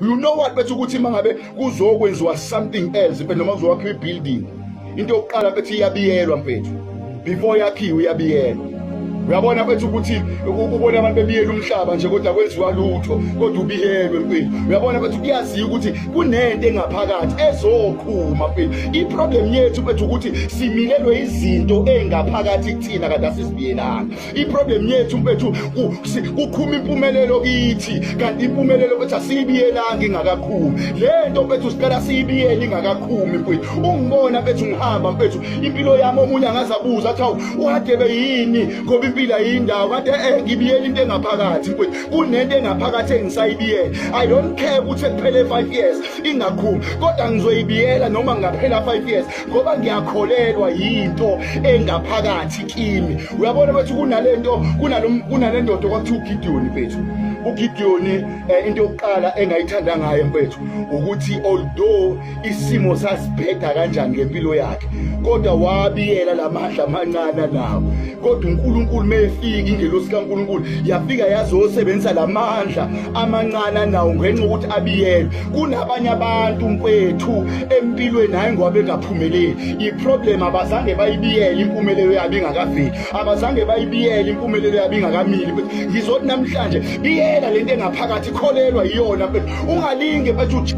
you know what bethi ukuthi mangabe kuzokwenziwa something else mfethu noma kuzokwakhiwa ibuilding into yokuqala bethi iyabiyelwa mfethu before yakhiwe iyabiyelwa uyabona kwethu ukuthi ubona abantu bebiyela umhlaba nje kodwa kwenziwa lutho kodwa ubiyelwe mfethu uyabona kwethu kuyaziwa ukuthi kunento engaphakathi ezoqhuma mfethu iproblem yethu kwethu ukuthi similelwe izinto engaphakathi kuthina kade asizibiyelanga iproblem yethu mfethu kuqhuma impumelelo kithi kanti impumelelo mfethu asiyibiyelanga ingakakhumi le nto mfethu sicela siyibiyele ingakakhumi mfethu ungibona mfethu ngihamba mfethu impilo yami omunye angazabuza athi hawu uhadebe yini ngoba impilo ayindawo kade eh ngibiyele into engaphakathi mfethu kunento engaphakathi engisayibiyele i don't care ukuthi kuphele 5 years ingakhumi kodwa ngizoyibiyela noma ngaphela 5 years ngoba ngiyakholelwa yinto engaphakathi kimi uyabona bathi kunalento kunalendoda okwakuthi ugideoni mfethu ugideoni um eh, into yokuqala engayithanda ngayo mfethu ukuthi although isimo sasibheda kanjani ngempilo yakhe kodwa wabiyela la mandla amancane nawo kodwa unkulunkulu uma efika ingelosi kankulunkulu yafika yazosebenzisa la mandla amancane nawo ngenxa yokuthi abiyelwe kunabanye abantu mfethu empilweni hayi ngoba bengaphumeleli iproblem abazange bayibiyele impumelelo yabo ingakaveli abazange bayibiyele impumelelo yabo ingakamili ngizothi namhlanje biyela lento engaphakathi kholelwa iyona ungalinge bathi